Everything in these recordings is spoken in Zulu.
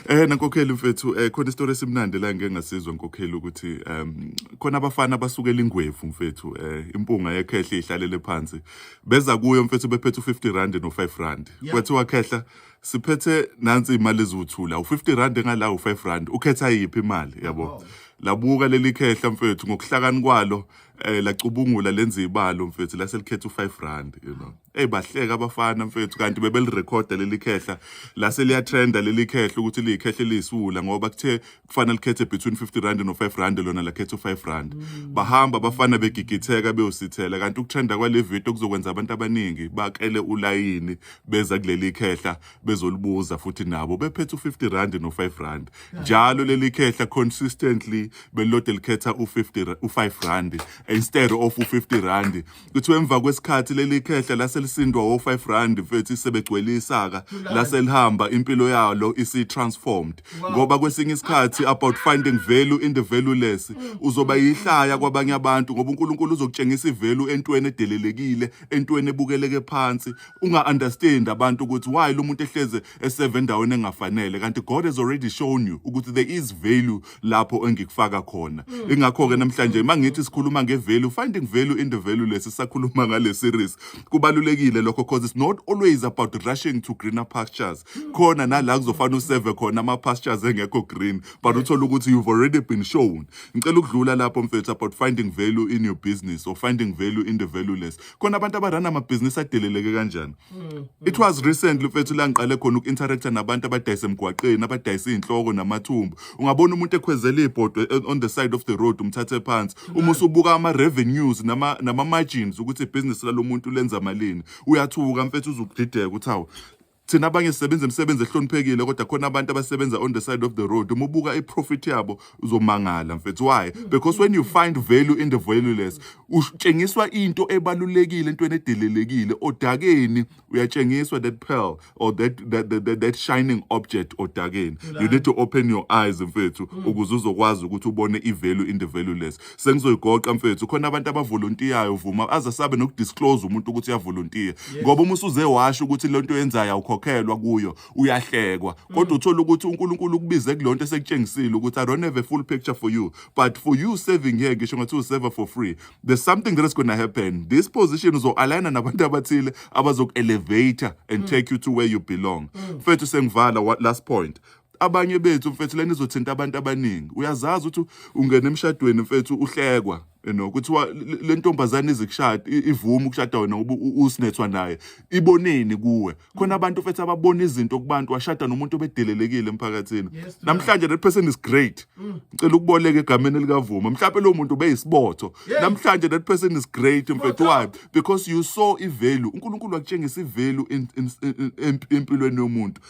Eh nankokheli mfethu eh khona isitori esimnandi la ngeke ngasizwa nkokheli ukuthi um khona abafana basukela ingwevu mfethu eh impunga yekhehla ihlalele phansi beza kuyo mfethu bephethe u50 rand no 5 rand Yeah. kwathiwa khehla siphethe nansi imali eziwuthula u50 rand engala u5 rand ukhetha yiphi imali yabo labuka leli khehla mfethu ngokuhlakani kwalo eh lacubungula lenza ibalo mfethu laselikhetha u5 rand you know eyi bahleka abafana mfethu kanti bebelirekhoda leli khehla lase liyatrenda leli khehla ukuthi liyikhehla eliyisiwula ngoba kuthe kufanele likhethe between 50 rand no-5 rand lona lakhetha u-5 rand mm. bahamba abafana begigitheka beyosithela kanti ukutrenda kwale video kuzokwenza abantu abaningi bakele ulayini beza kuleli khehla bezolibuza futhi nabo bephethe u-50 rand no-5 rand njalo leli khehla consistently belilode likhetha u-5 rand instead of u-50 rand Kuthiwa emva kwesikhathi leli khehla lase lisindwa wo-5 rand mfethu sebegcwele isaka lase lihamba impilo yalo isi-transformed ngoba kwesinye isikhathi about finding value in the valueless uzoba yihlaya kwabanye abantu ngoba uNkulunkulu uzokutshengisa ivalue entweni edelelekile entweni ebukeleke phansi unga-understand abantu ukuthi why lo muntu ehleze eseve endaweni engafanele kanti God has already shown you ukuthi there is value lapho engikufaka khona mm. ingakho ke namhlanje mm. mangithi sikhuluma ngevalue finding value in the value lesi sakhuluma ngale series kubalulekile lokho because it's not always about rushing to greener pastures mm. khona nala kuzofana useve khona ama pastures engekho green but uthola ukuthi you've already been shown ngicela ukudlula lapho mfethu about finding value in your business or finding value in the valueless khona abantu abarana amabhizinisi adeleleke kanjani mm. it was recently mfethu la ngiqale khona uku-interacta nabantu abadayisa emgwaqeni abadayisa iy'nhloko namathumbu ungabona umuntu ekhwezela iy'bhodwe eh, on the side of the road umthathe phansi mm. uma usubuka ama-revenues nama-margins ukuthi ibhizinisi lalo muntu lenza malini uyathuka mfethu uzukudideka ukuthi hawu Thina abanye sisebenza imisebenzi ehloniphekile kodwa khona abantu abasebenza on the side of the road. Uma ubuka i-profit yabo uzomangala mfethu. Why? Because when you find value in the valueless, utshengiswa into ebalulekile entweni edelelekile. Odakeni uyatshengiswa that pearl or that that, that, that, that shining object odakeni. You need to open your eyes mfethu ukuze uzokwazi ukuthi ubone i-value in the valueless. sengizoyigoqa mfethu khona abantu abavolontiyayo vuma aze sabe nokudisclose umuntu ukuthi uyavolontiya ngoba uma usuze washo ukuthi le nto yenzayo awukhokhelwa kuyo uyahlekwa kodwa uthola ukuthi uNkulunkulu ukubize kulonto esekutshengisile ukuthi I don't have a full picture for you but for you serving here ngisho ngathi userver for free there's something that is going to happen this position uzo-aligna nabantu abathile abazoku-elevator and take you to where you belong mfethu sengivala wa- last point abanye bethu mfethu lena izothinta abantu abaningi uyazazi ukuthi ungena emshadweni mfethu uhlekwa you know kuthiwa le ntombazane izikushada ivuma ukushada wena ngoba usinethwa naye iboneni kuwe khona abantu mfethu ababona izinto kubantu washada nomuntu obedelelekile emphakathini namhlanje that person is great mm. ngicela ukuboleka egameni likavuma mhlawumbe lo muntu ubeyisibotho namhlanje that person is great mfethu why because you saw ivalue uNkulunkulu wakutshengisa ivalue empilweni yomuntu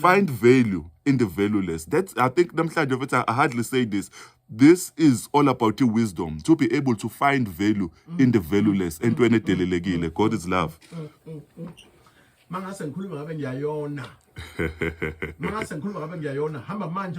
find value in the valueless that's i think namhlanje futhi i hardly say this this is all about your wisdom to be able to find value in the valueless entweni edelelekile god is love mangase ngikhuluma ngabe ngiyayona mangase ngikhuluma ngabe ngiyayona hamba manje